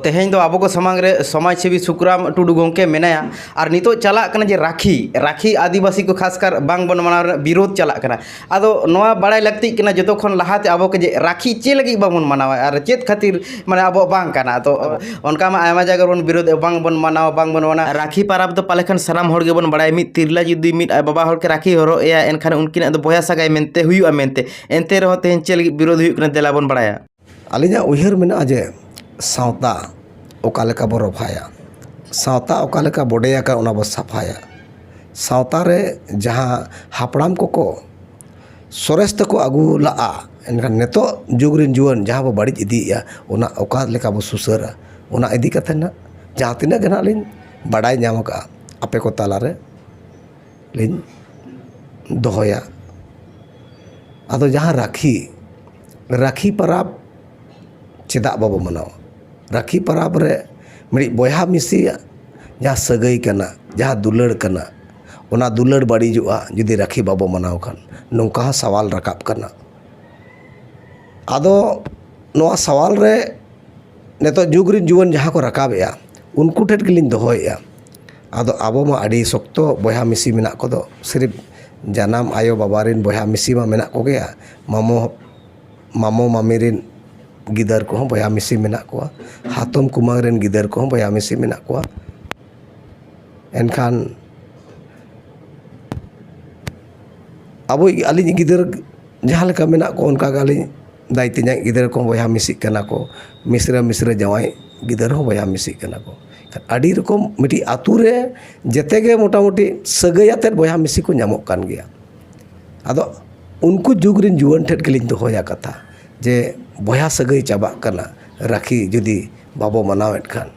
ᱛᱮᱦᱮᱧ ᱫᱚ ᱟᱵᱚ ᱠᱚ ᱥᱟᱢᱟᱝ ᱨᱮ ᱥᱚᱢᱟᱡᱽ ᱥᱮᱵᱤ ᱥᱩᱠᱨᱟᱢ ᱴᱩᱰᱩ ᱜᱚᱢᱠᱮ ᱢᱮᱱᱟᱭᱟ ᱟᱨ ᱱᱤᱛᱚᱜ ᱪᱟᱞᱟᱜ ᱠᱟᱱᱟ ᱡᱮ ᱨᱟᱠᱷᱤ ᱨᱟᱠᱷᱤ ᱟᱹᱫᱤᱵᱟᱹᱥᱤ ᱠᱚ ᱠᱷᱟᱥ ᱠᱟᱨ ᱵᱟᱝ ᱵᱚᱱ ᱢᱟᱱᱟᱣ ᱨᱮᱱᱟᱜ ᱵᱤᱨᱳᱫᱷ ᱪᱟᱞᱟᱜ ᱠᱟᱱᱟ ᱟᱫᱚ ᱱᱚᱣᱟ ᱵᱟᱲᱟᱭ ᱞᱟᱹᱠᱛᱤᱜ ᱠᱟᱱᱟ ᱡᱚᱛᱚ ᱠᱷᱚᱱ ᱞᱟᱦᱟ ᱛᱮ ᱟᱵᱚ ᱠᱚ ᱡᱮ ᱨᱟᱠᱷᱤ ᱪᱮᱫ ᱞᱟᱹᱜᱤᱫ ᱵᱟᱵᱚᱱ ᱢᱟᱱᱟᱣᱟ ᱟᱨ ᱪᱮᱫ ᱠᱷᱟᱹᱛᱤᱨ ᱢᱟᱱᱮ ᱟᱵᱚᱣᱟᱜ ᱵᱟᱝ ᱠᱟᱱᱟ ᱛᱚ ᱚᱱᱠᱟ ᱢᱟ ᱟᱭᱢᱟ ᱡᱟᱭᱜᱟ ᱨᱮᱵᱚᱱ ᱵᱤᱨᱳᱫᱷ ᱮᱫᱟ ᱵᱟᱝ ᱵᱚᱱ ᱢᱟᱱᱟᱣᱟ ᱵᱟᱝ ᱵᱚᱱ ᱚᱱᱟ ᱨᱟᱠᱷᱤ ᱯᱟᱨᱟᱵᱽ ᱫᱚ ᱯᱟᱞᱮ ᱠᱷᱟᱱ ᱥᱟᱱᱟᱢ ᱦᱚᱲ ᱜᱮᱵᱚᱱ ᱵᱟᱲᱟᱭᱟ ᱢᱤᱫ ᱛᱤᱨᱞᱟᱹ ᱡᱩᱫᱤ ᱢᱤᱫ ᱟᱡ ᱵᱟᱵᱟ ᱦᱚᱲ ᱠᱤᱱ ᱨᱟᱠᱷᱤ ᱦᱚᱨᱚᱜ ᱮᱭᱟ ᱮᱱᱠᱷᱟᱱ ᱩᱱᱠᱤᱱᱟᱜ ᱫᱚ ᱵᱚᱭᱦᱟ ᱥᱟᱹᱜᱟᱹᱭ ᱢᱮᱱᱛᱮ ᱦᱩᱭᱩᱜᱼᱟ ᱢᱮᱱᱛᱮ ᱮᱱᱛᱮ ᱨᱮᱦᱚᱸ ᱛᱮᱦᱮᱧ ᱪᱮᱫ ᱞᱟᱹᱜᱤᱫ ᱵᱤᱨᱳᱫᱷ ᱦᱩᱭᱩᱜ ᱠᱟᱱᱟ ᱫᱮᱞᱟ ᱵᱚᱱ ᱵᱟᱲᱟᱭᱟ ᱟᱹᱞᱤᱧᱟᱜ ᱩᱭᱦᱟᱹᱨ ᱢᱮᱱᱟᱜᱼᱟ ᱡᱮ ᱥᱟᱶᱛᱟ ᱚᱠᱟ ᱞᱮᱠᱟ ᱵᱚᱱ ᱨᱚᱯᱷᱟᱭᱟ ᱥᱟᱶᱛᱟ ᱚᱠᱟ ᱞᱮᱠᱟ ᱵᱚᱰᱮ ᱟᱠᱟᱱ ᱚᱱᱟ ᱵᱚᱱ ᱥᱟᱯᱷᱟᱭᱟ ᱥᱟᱶᱛᱟ ᱨᱮ ᱡᱟᱦᱟᱸ ᱦᱟᱯᱲᱟᱢ ᱠᱚᱠᱚ ᱥᱚᱨᱮᱥ ᱛᱮᱠᱚ ᱟᱹᱜᱩ ᱞᱟᱜᱼᱟ ᱮᱱᱠᱷᱟᱱ ᱱᱤᱛᱚᱜ ᱡᱩᱜᱽ ᱨᱮᱱ ᱡᱩᱣᱟᱹᱱ ᱡᱟᱦᱟᱸ ᱵᱚᱱ ᱵᱟᱹᱲᱤᱡ ᱤᱫᱤᱭᱮᱜᱼᱟ ᱚᱱᱟ ᱚᱠᱟ ᱞᱮᱠᱟ ᱵᱚᱱ ᱥᱩᱥᱟᱹᱨᱟ ᱚᱱᱟ ᱤᱫᱤ ᱠᱟᱛᱮᱫ ᱦᱟᱸᱜ ᱡᱟᱦᱟᱸ ᱛᱤᱱᱟᱹᱜ ᱜᱮ ᱦᱟᱸᱜ ᱞᱤᱧ ᱵᱟᱰᱟᱭ ᱧᱟᱢ ᱠᱟᱜᱼᱟ ᱟᱯᱮ ᱠᱚ ᱛᱟᱞᱟᱨᱮ ᱞᱤᱧ ᱫᱚᱦᱚᱭᱟ ᱟᱫᱚ ᱡᱟᱦᱟᱸ ᱨᱟᱹᱠᱷᱤ ᱨᱟᱹᱠᱷᱤ ᱯᱚᱨᱚᱵᱽ ᱪᱮᱫᱟᱜ ᱵᱟᱵᱚ ᱢᱟᱱᱟᱣᱟ ᱨᱟᱹᱠᱷᱤ ᱯᱚᱨᱚᱵᱽ ᱨᱮ ᱢᱤᱫ ᱵᱚᱭᱦᱟ ᱢᱤᱥᱤᱭᱟᱜ ᱡᱟᱦᱟᱸ ᱥᱟᱹᱜᱟᱹᱭ ᱠᱟᱱᱟ ᱡᱟᱦᱟᱸ ᱫᱩᱞᱟᱹᱲ ᱠᱟᱱᱟ ᱚᱱᱟ ᱫᱩᱞᱟᱹᱲ ᱵᱟᱹᱲᱤᱡᱚᱜᱼᱟ ᱡᱩᱫᱤ ᱨᱟᱹᱠᱷᱤ ᱵᱟᱵᱚ ᱢᱟᱱᱟᱣ ᱠᱷᱟᱱ ᱱᱚᱝᱠᱟ ᱦᱚᱸ ᱥᱟᱣᱟᱞ ᱨᱟᱠᱟᱵ ᱠᱟᱱᱟ ᱟᱫᱚ ᱱᱚᱣᱟ ᱥᱟᱣᱟᱞ ᱨᱮ ᱱᱤᱛᱚᱜ ᱡᱩᱜᱽ ᱨᱮᱱ ᱡᱩᱣᱟᱹᱱ ᱡᱟᱦᱟᱸ ᱠᱚ ᱨᱟᱠᱟᱵᱮᱜᱼᱟ ᱩᱱᱠᱩ ᱴᱷᱮᱱ ᱜᱮᱞᱤᱧ ᱫᱚᱦᱚᱭᱮᱜᱼᱟ ᱟᱫᱚ ᱟᱵᱚ ᱢᱟ ᱟᱹᱰᱤ ᱥᱚᱠᱛᱚ ᱵᱚᱭᱦᱟ ᱢᱤᱥᱤ ᱢᱮᱱᱟᱜ ᱠᱚᱫᱚ ᱥᱤᱨᱤᱯ ᱡᱟᱱᱟᱢ ᱟᱭᱳ ᱵᱟᱵᱟ ᱨᱮᱱ ᱵᱚᱭᱦᱟ ᱢᱤᱥᱤ ᱢᱟ ᱢᱮᱱᱟᱜ ᱠᱚᱜᱮᱭᱟ ᱢᱟᱢᱚ ᱢᱟᱢᱚ ᱢᱟᱢᱤ ᱨᱮᱱ ᱜᱤᱫᱟᱹᱨ ᱠᱚᱦᱚᱸ ᱵᱚᱭᱦᱟ ᱢᱤᱥᱤ ᱢᱮᱱᱟᱜ ᱠᱚᱣᱟ ᱦᱟᱛᱚᱢ ᱠᱩᱢᱟᱹᱝ ᱨᱮᱱ ᱜᱤᱫᱟᱹᱨ ᱠᱚᱦᱚᱸ ᱵᱚᱭᱦᱟ ᱢᱤᱥᱤ ᱢᱮᱱᱟᱜ ᱠᱚᱣᱟ ᱮᱱᱠᱷᱟᱱ ᱟᱵᱚᱭᱤᱡ ᱟᱹᱞᱤᱧᱤᱡ ᱜᱤᱫᱟᱹᱨ ᱡᱟᱦᱟᱸ ᱞᱮᱠᱟ ᱢᱮᱱᱟᱜ ᱠᱚᱣᱟ ᱚᱱᱠᱟ ᱜᱮ ᱟᱹᱞᱤᱧ ᱫᱟᱭ ᱛᱮᱧᱟᱝ ᱜᱤᱫᱽᱨᱟᱹ ᱠᱚᱦᱚᱸ ᱵᱚᱭᱦᱟ ᱢᱤᱥᱤᱜ ᱠᱟᱱᱟ ᱠᱚ ᱢᱤᱥᱨᱟ ᱢᱤᱥᱨᱟ ᱡᱟᱶᱟᱭ ᱜᱤᱫᱟᱹᱨ ᱦᱚᱸ ᱵᱚᱭᱦᱟ ᱢᱤᱥᱤᱜ ᱠᱟᱱᱟ ᱠᱚ ᱟᱹᱰᱤ ᱨᱚᱠᱚᱢ ᱢᱤᱫᱴᱤᱡ ᱟᱹᱛᱩ ᱨᱮ ᱡᱮᱛᱮ ᱜᱮ ᱢᱳᱴᱟᱢᱩᱴᱤ ᱥᱟᱹᱜᱟᱹᱭ ᱟᱛᱮᱜ ᱵᱚᱭᱦᱟ ᱢᱤᱥᱤ ᱠᱚ ᱧᱟᱢᱚᱜ ᱠᱟᱱ ᱜᱮᱭᱟ ᱟᱫᱚ ᱩᱱᱠᱩ ᱡᱩᱜᱽ ᱨᱮᱱ ᱡᱩᱣᱟᱹᱱ ᱴᱷᱮᱱ ᱜᱮᱞᱤᱧ ᱫᱚᱦᱚᱭᱟ ᱠᱟᱛᱷᱟ ᱡᱮ ᱵᱚᱭᱦᱟ ᱥᱟᱹᱜᱟᱹᱭ ᱪᱟᱵᱟᱜ ᱠᱟᱱᱟ ᱨᱟᱹᱠᱷᱤ ᱡᱩᱫᱤ ᱵᱟᱵᱚ ᱢᱟᱱᱟᱣ ᱮᱜ ᱠᱷᱟᱱ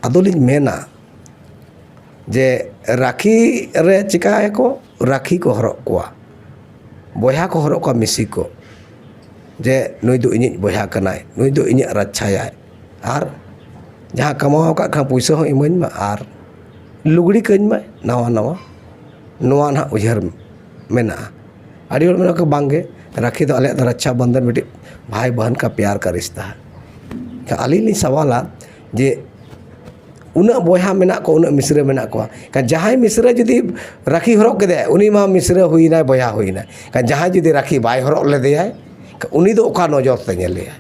ᱟᱫᱚᱞᱤᱧ ᱢᱮᱱᱟ ᱡᱮ ᱨᱟᱹᱠᱷᱤ ᱨᱮ ᱪᱤᱠᱟᱭᱟᱠᱚ ᱨᱟᱹᱠᱷᱤ ᱠᱚ ᱦᱚᱨᱚᱜ ᱟᱠᱚᱣᱟ ᱵᱚᱭᱦᱟ ᱠᱚ ᱦᱚᱨᱚᱜ ᱠᱚᱣᱟ ᱢᱤᱥᱤ ᱠᱚ ᱡᱮ ᱱᱩᱭ ᱫᱚ ᱤᱧᱤᱡ ᱵᱚᱭᱦᱟ ᱠᱟᱱᱟᱭ ᱱᱩᱭ ᱫᱚ ᱤᱧᱟᱹᱜ ᱨᱟᱪᱪᱷᱟᱭᱟᱭ ᱟᱨ ᱡᱟᱦᱟᱸ ᱠᱟᱢᱟᱣ ᱟᱠᱟᱫ ᱠᱷᱟᱱ ᱯᱩᱭᱥᱟᱹ ᱦᱚᱸ ᱤᱢᱟᱹᱧ ᱢᱮ ᱟᱨ ᱞᱩᱜᱽᱲᱤ ᱠᱟᱹᱧ ᱢᱮ ᱱᱟᱣᱟ ᱱᱟᱣᱟ ᱱᱚᱣᱟ ᱱᱟᱦᱟᱜ ᱩᱭᱦᱟᱹᱨ ᱢᱮᱱᱟᱜᱼᱟ ᱟᱹᱰᱤ ᱦᱚᱲ ᱢᱮᱱᱟᱠᱚ ᱵᱟᱝᱜᱮ ᱨᱟᱹᱠᱷᱤ ᱫᱚ ᱟᱞᱮᱭᱟᱜ ᱫᱚ ᱨᱟᱪᱪᱷᱟ ᱵᱚᱱᱫᱷᱚᱱ ᱢᱤᱫᱴᱤᱡ ᱵᱷᱟᱭ ᱵᱚᱦᱚᱱ ᱠᱟ ᱯᱮᱭᱟᱨ ᱠᱟ ᱨᱤᱥᱛᱟ ᱦᱮ ᱛᱚ ᱟᱹᱞᱤᱧ ᱞᱤᱧ ᱥᱟᱶᱟᱞᱟ ᱡᱮ ᱩᱱᱟᱹᱜ ᱵᱚᱭᱦᱟ ᱢᱮᱱᱟᱜ ᱠᱚᱣᱟ ᱩᱱᱟᱹᱜ ᱢᱤᱥᱨᱟ ᱢᱮᱱᱟᱜ ᱠᱚᱣᱟ ᱮᱱᱠᱷᱟᱱ ᱡᱟᱦᱟᱸᱭ ᱢᱤᱥᱨᱟ ᱡᱩᱫᱤ ᱨᱟᱹᱠᱷᱤ ᱦᱚᱨᱚᱜ ᱠᱮᱫᱟᱭ ᱩᱱᱤ ᱢᱟ ᱢᱤᱥᱨᱟ ᱦᱩᱭᱮᱱᱟᱭ ᱵᱚᱭᱦᱟ ᱦᱩᱭᱮᱱᱟᱭ ᱮᱱᱠᱷᱟᱱ ᱡᱟᱦᱟᱸᱭ ᱡᱩᱫᱤ ᱨᱟᱹᱠᱷᱤ ᱵᱟᱭ ᱦᱚᱨᱚᱜ ᱞᱮᱫᱮᱭᱟᱭ ᱮᱱᱠᱷᱟᱱ ᱩᱱᱤ ᱫᱚ ᱚᱠᱟ ᱱᱚᱡᱚᱨ ᱛᱮ ᱧᱮᱞᱮᱭᱟᱭ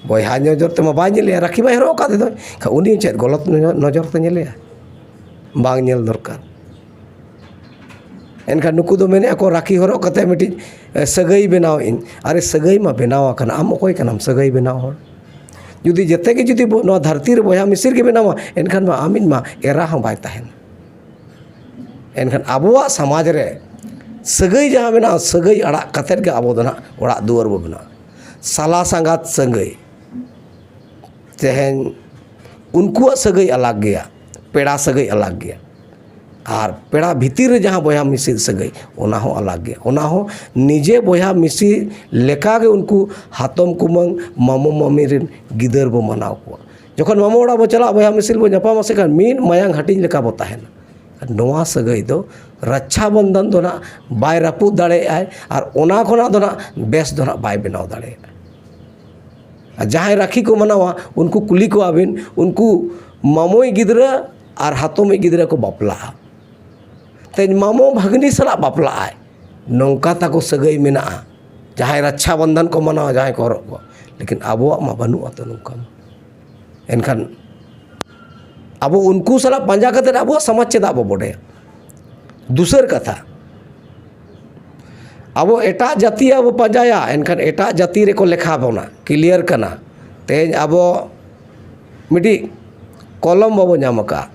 ᱵᱚᱭᱦᱟ ᱱᱚᱡᱚᱨ ᱛᱮᱢᱟ ᱵᱟᱭ ᱧᱮᱞᱮᱭᱟ ᱨᱟᱹᱠᱷᱤ ᱵᱟᱭ ᱦᱚᱨᱚᱜ ᱟᱠᱟᱫᱮ ᱫᱚᱭ ᱮᱱᱠᱷᱟᱱ ᱩᱱᱤ ᱪᱮᱫ ᱜᱚᱞᱚᱛ ᱱᱚᱡᱚᱨ ᱛᱮ ᱧᱮᱞᱮᱭᱟᱭ ᱵᱟᱝ ᱧᱮᱞ ᱫᱚᱨᱠᱟᱨ ᱮᱱᱠᱷᱟᱱ ᱱᱩᱠᱩ ᱫᱚ ᱢᱮᱱᱮᱫᱼᱟ ᱠᱚ ᱨᱟᱹᱠᱷᱤ ᱦᱚᱨᱚᱜ ᱠᱟᱛᱮᱫ ᱢᱤᱫᱴᱤᱡ ᱥᱟᱹᱜᱟᱹᱭ ᱵᱮᱱᱟᱣᱮᱫᱼᱟᱹᱧ ᱟᱨᱮ ᱥᱟᱹᱜᱟᱹᱭ ᱢᱟ ᱵᱮᱱᱟᱣ ᱟᱠᱟᱱᱟ ᱟᱢ ᱚᱠᱚᱭ ᱠᱟᱱᱟᱢ ᱥᱟᱹᱜᱟᱹᱭ ᱵᱮᱱᱟᱣ ᱦᱚᱲ ᱡᱩᱫᱤ ᱡᱮᱛᱮ ᱜᱮ ᱡᱩᱫᱤ ᱵᱚ ᱱᱚᱣᱟ ᱫᱷᱟᱹᱨᱛᱤ ᱨᱮ ᱵᱚᱭᱦᱟ ᱢᱤᱥᱤᱨ ᱜᱮ ᱢᱮᱱᱟᱢᱟ ᱮᱱᱠᱷᱟᱱ ᱢᱟ ᱟᱢ ᱤᱧ ᱢᱟ ᱮᱨᱟ ᱦᱚᱸ ᱵᱟᱭ ᱛᱟᱦᱮᱱ ᱮᱱᱠᱷᱟᱱ ᱟᱵᱚᱣᱟᱜ ᱥᱚᱢᱟᱡᱽ ᱨᱮ ᱥᱟᱹᱜᱟᱹᱭ ᱡᱟᱦᱟᱸ ᱢᱮᱱᱟᱜᱼᱟ ᱥᱟᱹᱜᱟᱹᱭ ᱟᱲᱟᱜ ᱠᱟᱛᱮ ᱜᱮ ᱟᱵᱚ ᱫᱚ ᱦᱟᱸᱜ ᱚᱲᱟᱜ ᱫᱩᱣᱟᱹᱨ ᱵᱚ ᱵᱮᱱᱟᱣᱟ ᱥᱟᱞᱟ ᱥᱟᱝᱜᱟᱛ ᱥᱟᱹᱜᱟᱹᱭ ᱛᱮᱦᱮᱧ ᱩᱱᱠᱩᱣᱟᱜ ᱥᱟᱹᱜᱟᱹᱭ ᱟᱞᱟᱜᱽ ᱜᱮᱭᱟ ᱯᱮᱲᱟ ᱥᱟᱹᱜᱟᱹᱭ ᱟᱞᱟᱜᱽ ᱜᱮᱭᱟ ᱟᱨ ᱯᱮᱲᱟ ᱵᱷᱤᱛᱤᱨ ᱨᱮ ᱡᱟᱦᱟᱸ ᱵᱚᱭᱦᱟ ᱢᱤᱥᱤ ᱥᱟᱹᱜᱟᱹᱭ ᱚᱱᱟ ᱦᱚᱸ ᱟᱞᱟᱜᱽ ᱜᱮᱭᱟ ᱚᱱᱟ ᱦᱚᱸ ᱱᱤᱡᱮ ᱵᱚᱭᱦᱟ ᱢᱤᱥᱤ ᱞᱮᱠᱟ ᱜᱮ ᱩᱱᱠᱩ ᱦᱟᱛᱚᱢ ᱠᱩᱢᱟᱹᱝ ᱢᱟᱢᱚ ᱢᱟᱹᱢᱤ ᱨᱮᱱ ᱜᱤᱫᱟᱹᱨ ᱵᱚᱱ ᱢᱟᱱᱟᱣ ᱠᱚᱣᱟ ᱡᱚᱠᱷᱚᱱ ᱢᱟᱢᱚ ᱚᱲᱟᱜ ᱵᱚᱱ ᱪᱟᱞᱟᱜᱼᱟ ᱵᱚᱭᱦᱟ ᱢᱤᱥᱤ ᱵᱚᱱ ᱧᱟᱯᱟᱢᱟ ᱥᱮ ᱠᱷᱟᱱ ᱢᱤᱫ ᱢᱟᱭᱟᱝ ᱦᱟᱹᱴᱤᱧ ᱞᱮᱠᱟ ᱵᱚᱱ ᱛᱟᱦᱮᱱᱟ ᱱᱚᱣᱟ ᱥᱟᱹᱜᱟᱹᱭ ᱫᱚ ᱨᱟᱠᱪᱷᱟ ᱵᱚᱱᱫᱷᱚᱱ ᱫᱚ ᱦᱟᱸᱜ ᱵᱟᱭ ᱨᱟᱹᱯᱩᱫ ᱫᱟᱲᱮᱭᱟᱜᱼᱟᱭ ᱟᱨ ᱚᱱᱟ ᱠᱷᱚᱱᱟᱜ ᱫᱚ ᱦᱟᱸᱜ ᱵᱮᱥ ᱫᱚ ᱦᱟᱸᱜ ᱵᱟᱭ ᱵᱮᱱᱟᱣ ᱫᱟᱲᱮᱭᱟᱜᱼᱟ ᱟᱨ ᱡᱟᱦᱟᱸᱭ ᱨᱟᱹᱠᱷᱤ ᱠᱚ ᱢᱟᱱᱟᱣᱟ ᱩᱱᱠᱩ ᱠᱩᱞᱤ ᱠᱚᱣᱟᱵᱤᱱ ᱩᱱᱠᱩ ᱢᱟᱢᱚᱭ ᱜᱤᱫᱽᱨᱟᱹ ᱟᱨ ᱦᱟᱛᱚᱢᱤᱡ ᱜᱤᱫᱽᱨᱟᱹ ᱠᱚ ᱵᱟᱯᱞᱟᱜᱼᱟ ᱛᱮᱦᱮᱧ ᱢᱟᱢᱚ ᱵᱷᱟᱹᱜᱽᱱᱤ ᱥᱟᱞᱟᱜ ᱵᱟᱯᱞᱟᱜ ᱟᱭ ᱱᱚᱝᱠᱟ ᱛᱟᱠᱚ ᱥᱟᱹᱜᱟᱹᱭ ᱢᱮᱱᱟᱜᱼᱟ ᱡᱟᱦᱟᱸᱭ ᱨᱟᱠᱠᱷᱟ ᱵᱚᱱᱫᱷᱚᱱ ᱠᱚ ᱢᱟᱱᱟᱣᱟ ᱡᱟᱦᱟᱸᱭ ᱠᱚ ᱦᱚᱨᱚᱜ ᱟᱠᱚᱣᱟ ᱞᱮᱠᱤᱱ ᱟᱵᱚᱣᱟᱜ ᱢᱟ ᱵᱟᱹᱱᱩᱜ ᱟᱛᱚ ᱱᱚᱝᱠᱟ ᱢᱟ ᱮᱱᱠᱷᱟᱱ ᱟᱵᱚ ᱩᱱᱠᱩ ᱥᱟᱞᱟᱜ ᱯᱟᱸᱡᱟ ᱠᱟᱛᱮ ᱟᱵᱚᱣᱟᱜ ᱥᱚᱢᱟᱡᱽ ᱪᱮᱫᱟᱜ ᱵᱚ ᱵᱚᱰᱮᱭᱟ ᱫᱩᱥᱟᱹᱨ ᱠᱟᱛᱷᱟ ᱟᱵᱚ ᱮᱴᱟᱜ ᱡᱟᱹᱛᱤᱭᱟᱜ ᱵᱚ ᱯᱟᱸᱡᱟᱭᱟ ᱮᱱᱠᱷᱟᱱ ᱮᱴᱟᱜ ᱡᱟᱹᱛᱤ ᱨᱮᱠᱚ ᱞᱮᱠᱷᱟ ᱵᱚᱱᱟ ᱠᱞᱤᱭᱟᱨ ᱠᱟᱱᱟ ᱛᱮᱦᱮᱧ ᱟᱵᱚ ᱢᱤᱫᱴᱤᱡ ᱠᱚᱞᱚᱢ ᱵᱟᱵᱚ ᱧᱟᱢ ᱠᱟᱜᱼᱟ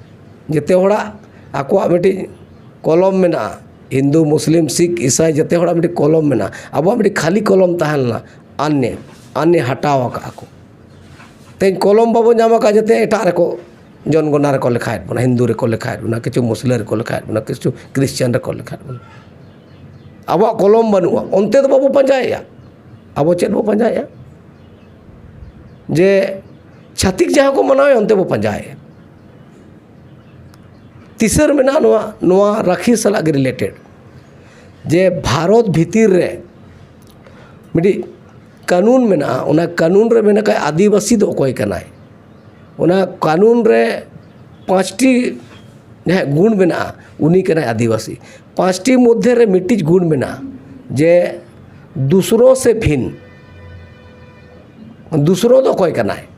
ᱡᱮᱛᱮ ᱦᱚᱲᱟᱜ ᱟᱠᱚᱣᱟᱜ ᱢᱤᱫᱴᱤᱡ ᱠᱚᱞᱚᱢ ᱢᱮᱱᱟᱜᱼᱟ ᱦᱤᱱᱫᱩ ᱢᱩᱥᱞᱤᱢ ᱥᱤᱠᱷ ᱤᱥᱟᱭ ᱡᱮᱛᱮ ᱦᱚᱲᱟᱜ ᱢᱤᱫᱴᱤᱡ ᱠᱚᱞᱚᱢ ᱢᱮᱱᱟᱜᱼᱟ ᱟᱵᱚᱣᱟᱜ ᱢᱤᱫᱴᱤᱡ ᱠᱷᱟᱹᱞᱤ ᱠᱚᱞᱚᱢ ᱛᱟᱦᱮᱸ ᱞᱮᱱᱟ ᱟᱨ ᱱᱮ ᱟᱨ ᱱᱮ ᱦᱟᱴᱟᱣ ᱠᱟᱜᱼᱟ ᱠᱚ ᱛᱮᱦᱮᱧ ᱠᱚᱞᱚᱢ ᱵᱟᱵᱚ ᱧᱟᱢ ᱠᱟᱜᱼᱟ ᱡᱟᱛᱮ ᱮᱴᱟᱜ ᱨᱮᱠᱚ ᱡᱚᱱᱜᱚᱱᱟ ᱨᱮᱠᱚ ᱞᱮᱠᱷᱟᱭᱮᱜ ᱵᱚᱱᱟ ᱦᱤᱱᱫᱩ ᱨᱮᱠᱚ ᱞᱮᱠᱷᱟᱭᱮᱜ ᱵᱚᱱᱟ ᱠᱤᱪᱷᱩ ᱢᱩᱥᱞᱟᱹ ᱨᱮᱠᱚ ᱞᱮᱠᱷᱟᱭᱮᱜ ᱵᱚᱱᱟ ᱠᱤᱪᱷᱩ ᱠᱨᱤᱥᱪᱟᱱ ᱨᱮᱠᱚ ᱞᱮᱠᱷᱟᱭᱮᱜ ᱵᱚᱱᱟ ᱟᱵᱚᱣᱟᱜ ᱠᱚᱞᱚᱢ ᱵᱟᱹᱱᱩᱜᱼᱟ ᱚᱱᱛᱮ ᱫᱚ ᱵᱟᱵᱚ ᱯᱟᱸᱡᱟᱭᱮᱜᱼᱟ ᱟᱵᱚ ᱪᱮᱫ ᱵᱚᱱ ᱯᱟᱸᱡᱟᱭᱮᱜᱼᱟ ᱡᱮ ᱪᱷᱟᱹᱛᱤᱠ ᱡᱟᱦᱟᱸ ᱠᱚ ᱢᱟᱱᱟᱣᱮᱫ ᱚᱱᱛᱮ ᱵᱚᱱ ᱯᱟᱸᱡᱟᱭᱮᱫᱼᱟ ᱫᱤᱥᱟᱹ ᱨᱮ ᱢᱮᱱᱟᱜᱼᱟ ᱱᱚᱣᱟ ᱱᱚᱣᱟ ᱨᱟᱹᱠᱷᱤ ᱥᱟᱞᱟᱜ ᱜᱮ ᱨᱤᱞᱮᱴᱮᱰ ᱡᱮ ᱵᱷᱟᱨᱚᱛ ᱵᱷᱤᱛᱤᱨ ᱨᱮ ᱢᱤᱫᱴᱤᱡ ᱠᱟᱹᱱᱩᱱ ᱢᱮᱱᱟᱜᱼᱟ ᱚᱱᱟ ᱠᱟᱹᱱᱩᱱ ᱨᱮ ᱢᱮᱱ ᱟᱠᱟᱫᱼᱟ ᱟᱹᱫᱤᱵᱟᱹᱥᱤ ᱫᱚ ᱚᱠᱚᱭ ᱠᱟᱱᱟᱭ ᱚᱱᱟ ᱠᱟᱹᱱᱩᱱ ᱨᱮ ᱯᱟᱸᱪᱴᱤ ᱡᱟᱦᱟᱸᱭᱟᱜ ᱜᱩᱱ ᱢᱮᱱᱟᱜᱼᱟ ᱩᱱᱤ ᱠᱟᱱᱟᱭ ᱟᱹᱫᱤᱵᱟᱹᱥᱤ ᱯᱟᱸᱪᱴᱤ ᱢᱚᱫᱽᱫᱷᱮ ᱨᱮ ᱢᱤᱫᱴᱤᱡ ᱜᱩᱱ ᱢᱮᱱᱟᱜᱼᱟ ᱡᱮ ᱫᱩᱥᱨᱳ ᱥᱮ ᱵᱷᱤᱱ ᱫᱩᱥᱨᱳ ᱫᱚ ᱚᱠᱚᱭ ᱠᱟᱱᱟᱭ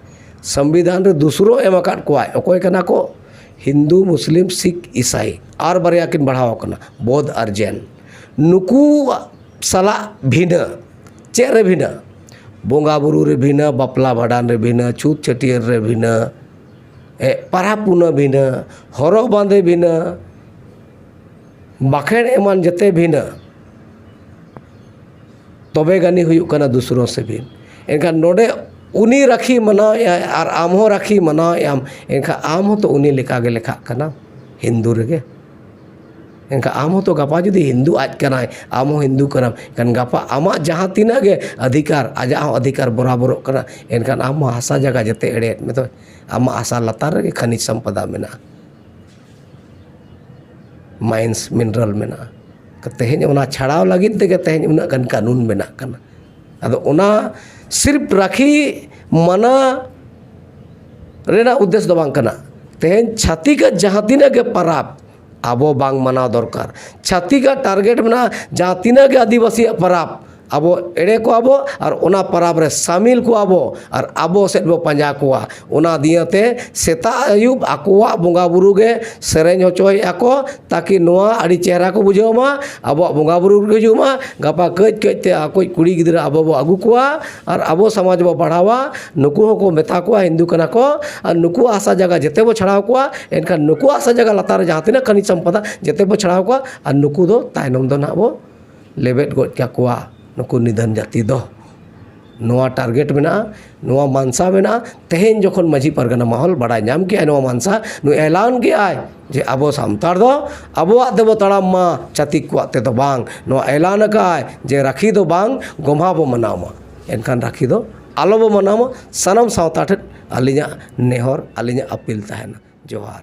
ᱥᱚᱝᱵᱤᱫᱷᱟᱱ ᱨᱮ ᱫᱩᱥᱨᱳ ᱮᱢ ᱟᱠᱟᱫ ᱠᱚᱣᱟᱭ ᱚᱠᱚᱭ ᱠᱟᱱᱟ ᱠᱚ ᱦᱤᱱᱫᱩ ᱢᱩᱥᱞᱤᱢ ᱥᱤᱠᱷ ᱤᱥᱟᱭ ᱟᱨ ᱵᱟᱨᱭᱟ ᱠᱤᱱ ᱵᱟᱲᱦᱟᱣ ᱠᱟᱱᱟ ᱵᱳᱫᱷ ᱟᱨ ᱡᱮᱱ ᱱᱩᱠᱩᱣᱟᱜ ᱥᱟᱞᱟᱜ ᱵᱷᱤᱱᱟᱹ ᱪᱮᱫ ᱨᱮ ᱵᱷᱤᱱᱟᱹ ᱵᱚᱸᱜᱟ ᱵᱩᱨᱩ ᱨᱮ ᱵᱷᱤᱱᱟᱹ ᱵᱟᱯᱞᱟ ᱵᱷᱟᱸᱰᱟᱱ ᱨᱮ ᱵᱷᱤᱱᱟᱹ ᱪᱷᱩᱛ ᱪᱷᱟᱹᱴᱭᱟᱹᱨ ᱨᱮ ᱵᱷᱤᱱᱟᱹ ᱯᱟᱨᱟᱵᱽ ᱯᱩᱱᱟᱹᱭ ᱵᱷᱤᱱᱟᱹ ᱦᱚᱨᱚᱜ ᱵᱟᱸᱫᱮ ᱵᱷᱤᱱᱟᱹ ᱵᱟᱸᱠᱷᱮᱲ ᱮᱢᱟᱱ ᱡᱮᱛᱮ ᱵᱷᱤᱱᱟᱹ ᱛᱚᱵᱮ ᱜᱟᱹᱱᱤ ᱦᱩᱭᱩᱜ ᱠᱟᱱᱟ ᱫᱩᱥᱨᱟᱹ ᱥᱤᱵᱤᱞ ᱮᱱᱠᱷᱟᱱ ᱱᱚᱰᱮ ᱩᱱᱤ ᱨᱟᱹᱠᱷᱤ ᱢᱟᱱᱟᱣ ᱮᱜ ᱟᱭ ᱟᱨ ᱟᱢ ᱦᱚᱸ ᱨᱟᱹᱠᱷᱤ ᱢᱟᱱᱟᱣ ᱮᱜ ᱟᱢ ᱮᱱᱠᱷᱟᱱ ᱟᱢ ᱦᱚᱸᱛᱚ ᱩᱱᱤ ᱞᱮᱠᱟᱜᱮ ᱞᱮᱠᱷᱟᱜ ᱠᱟᱱᱟᱢ ᱦᱤᱱᱫᱩ ᱨᱮᱜᱮ ᱮᱱᱠᱷᱟᱱ ᱟᱢ ᱦᱚᱸᱛᱚ ᱜᱟᱯᱟ ᱡᱩᱫᱤ ᱦᱤᱱᱫᱩ ᱟᱡ ᱠᱟᱱᱟᱭ ᱟᱢ ᱦᱚᱸ ᱦᱤᱱᱫᱩ ᱠᱟᱱᱟᱢ ᱮᱱᱠᱷᱟᱱ ᱜᱟᱯᱟ ᱟᱢᱟᱜ ᱡᱟᱦᱟᱸ ᱛᱤᱱᱟᱹᱜ ᱜᱮ ᱚᱫᱷᱤᱠᱟᱨ ᱟᱡᱟᱜ ᱦᱚᱸ ᱚᱫᱷᱤᱠᱟᱨ ᱵᱚᱨᱟᱵᱚᱨᱚᱜ ᱠᱟᱱᱟ ᱮᱱᱠᱷᱟᱱ ᱟᱢ ᱦᱚᱸ ᱦᱟᱥᱟ ᱡᱟᱭᱜᱟ ᱡᱮᱛᱮ ᱮᱲᱮᱭᱮᱫ ᱢᱮᱫᱚᱭ ᱟᱢᱟᱜ ᱦᱟᱥᱟ ᱞᱟᱛᱟᱨ ᱨᱮᱜᱮ ᱠᱷᱟᱹᱱᱤᱡ ᱥᱚᱢᱯᱚᱫᱟ ᱢᱮᱱᱟᱜᱼᱟ ᱢᱟᱭᱤᱱᱥ ᱢᱤᱱᱨᱟᱞ ᱢᱮᱱᱟᱜᱼᱟ ᱛᱮᱦᱮᱧ ᱚᱱᱟ ᱪᱷᱟᱲᱟᱣ ᱞᱟᱹᱜᱤᱫ ᱛᱮᱜᱮ ᱛᱮᱦᱮᱧ ᱩᱱᱟᱹᱜ ᱜᱟᱱ ᱠᱟᱹᱱᱩᱱ ᱵᱮᱱᱟᱜ ᱠᱟᱱᱟ ᱟᱫᱚ ᱚᱱᱟ ᱥᱤᱨᱯ ᱨᱟᱹᱠᱷᱤ ᱢᱟᱱᱟ ᱨᱮᱱᱟᱜ ᱩᱫᱽᱫᱮᱥ ᱫᱚ ᱵᱟᱝ ᱠᱟᱱᱟ ᱛᱮᱦᱮᱧ ᱪᱷᱟᱹᱛᱤᱠᱟᱜ ᱡᱟᱦᱟᱸ ᱛᱤᱱᱟᱹᱜ ᱜᱮ ᱯᱟᱨᱟᱵᱽ ᱟᱵᱚ ᱵᱟᱝ ᱢᱟᱱᱟᱣ ᱫᱚᱨᱠᱟᱨ ᱪᱷᱟᱹᱛᱤᱠᱟᱜ ᱴᱟᱨᱜᱮᱴ ᱢᱮᱱᱟᱜᱼᱟ ᱡᱟᱦᱟᱸ ᱛᱤᱱᱟᱹᱜ ᱜᱮ ᱟᱹᱫᱤᱵᱟᱹᱥᱤᱭᱟᱜ ᱯᱟᱨᱟᱵᱽ ᱟᱵᱚ ᱮᱲᱮ ᱠᱚᱣᱟ ᱵᱚ ᱟᱨ ᱚᱱᱟ ᱯᱚᱨᱚᱵᱽ ᱨᱮ ᱥᱟᱹᱢᱤᱞ ᱠᱚᱣᱟ ᱵᱚ ᱟᱨ ᱟᱵᱚ ᱥᱮᱫ ᱵᱚ ᱯᱟᱸᱡᱟ ᱠᱚᱣᱟ ᱚᱱᱟ ᱫᱤᱭᱮ ᱛᱮ ᱥᱮᱛᱟᱜ ᱟᱹᱭᱩᱵ ᱟᱠᱚᱣᱟᱜ ᱵᱚᱸᱜᱟᱼᱵᱩᱨᱩ ᱜᱮ ᱥᱮᱨᱮᱧ ᱦᱚᱪᱚᱭᱮᱫᱼᱟ ᱠᱚ ᱛᱟᱠᱤ ᱱᱚᱣᱟ ᱟᱹᱰᱤ ᱪᱮᱦᱨᱟ ᱠᱚ ᱵᱩᱡᱷᱟᱹᱣ ᱢᱟ ᱟᱵᱚᱣᱟᱜ ᱵᱚᱸᱜᱟᱼᱵᱩᱨᱩ ᱠᱚ ᱦᱤᱡᱩᱜ ᱢᱟ ᱜᱟᱯᱟ ᱠᱟᱹᱡ ᱠᱟᱹᱡ ᱛᱮ ᱟᱠᱚᱭᱤᱡ ᱠᱩᱲᱤ ᱜᱤᱫᱽᱨᱟᱹ ᱟᱵᱚ ᱵᱚ ᱟᱹᱜᱩ ᱠᱚᱣᱟ ᱟᱨ ᱟᱵᱚ ᱥᱚᱢᱟᱡᱽ ᱵᱚ ᱵᱟᱲᱦᱟᱣᱟ ᱱᱩᱠᱩ ᱦᱚᱸᱠᱚ ᱢᱮᱛᱟ ᱠᱚᱣᱟ ᱦᱤᱱᱫᱩ ᱠᱟᱱᱟ ᱠᱚ ᱟᱨ ᱱᱩᱠᱩᱣᱟᱜ ᱦᱟᱥᱟ ᱡᱟᱭᱜᱟ ᱡᱮᱛᱮ ᱵᱚ ᱪᱷᱟᱲᱟᱣ ᱠᱚᱣᱟ ᱮᱱᱠᱷᱟᱱ ᱱᱩᱠᱩᱣᱟᱜ ᱦᱟᱥᱟ ᱡᱟᱭᱜᱟ ᱞᱟᱛᱟᱨ ᱨᱮ ᱡᱟᱦᱟᱸ ᱛᱤᱱᱟᱹᱜ ᱠᱷᱟᱱᱤᱡᱽ ᱥᱚᱢᱯᱚᱫ ᱢᱮᱱᱟᱜᱼᱟ ᱡᱮᱛᱮ ᱵᱚ ᱪᱷᱟᱲᱟᱣ ᱠᱚᱣᱟ ᱟᱨ ᱱᱩᱠᱩ ᱫᱚ ᱛᱟᱭᱱᱚᱢ ᱫᱚ ᱦᱟᱸᱜ ᱵᱚ ᱞᱮᱵᱮᱫ ᱜᱚᱡ ᱠᱟᱠᱚᱣᱟ ᱱᱩᱠᱩ ᱱᱤᱫᱷᱟᱹᱱ ᱡᱟᱹᱛᱤ ᱫᱚ ᱱᱚᱣᱟ ᱴᱟᱨᱜᱮᱴ ᱢᱮᱱᱟᱜᱼᱟ ᱱᱚᱣᱟ ᱢᱟᱱᱥᱟ ᱢᱮᱱᱟᱜᱼᱟ ᱛᱮᱦᱮᱧ ᱡᱚᱠᱷᱚᱱ ᱢᱟᱹᱡᱷᱤ ᱯᱟᱨᱜᱟᱱᱟ ᱢᱚᱦᱚᱞ ᱵᱟᱲᱟᱭ ᱧᱟᱢ ᱠᱮᱜᱼᱟᱭ ᱱᱚᱣᱟ ᱢᱟᱱᱥᱟ ᱱᱩᱭ ᱮᱞᱟᱱ ᱠᱮᱜᱼᱟᱭ ᱡᱮ ᱟᱵᱚ ᱥᱟᱱᱛᱟᱲ ᱫᱚ ᱟᱵᱚᱣᱟᱜ ᱛᱮᱵᱚᱱ ᱛᱟᱲᱟᱢ ᱢᱟ ᱪᱷᱟᱹᱛᱤᱠ ᱠᱚᱣᱟᱜ ᱛᱮᱫᱚ ᱵᱟᱝ ᱱᱚᱣᱟ ᱮᱞᱟᱱ ᱠᱟᱜᱼᱟᱭ ᱡᱮ ᱨᱟᱹᱠᱷᱤ ᱫᱚ ᱵᱟᱝ ᱜᱚᱢᱦᱟ ᱵᱚᱱ ᱢᱟᱱᱟᱣ ᱢᱟ ᱮᱱᱠᱷᱟᱱ ᱨᱟᱹᱠᱷᱤ ᱫᱚ ᱟᱞᱚ ᱵᱚᱱ ᱢᱟᱱᱟᱣ ᱢᱟ ᱥᱟᱱᱟᱢ ᱥᱟᱶᱛᱟ ᱴᱷᱮᱱ ᱟᱹᱞᱤᱧᱟᱜ ᱱᱮᱦᱚᱨ ᱟᱹᱞᱤᱧᱟᱜ ᱟᱹᱯᱤᱞ ᱛᱟᱦᱮᱱᱟ ᱡᱚᱦᱟᱨ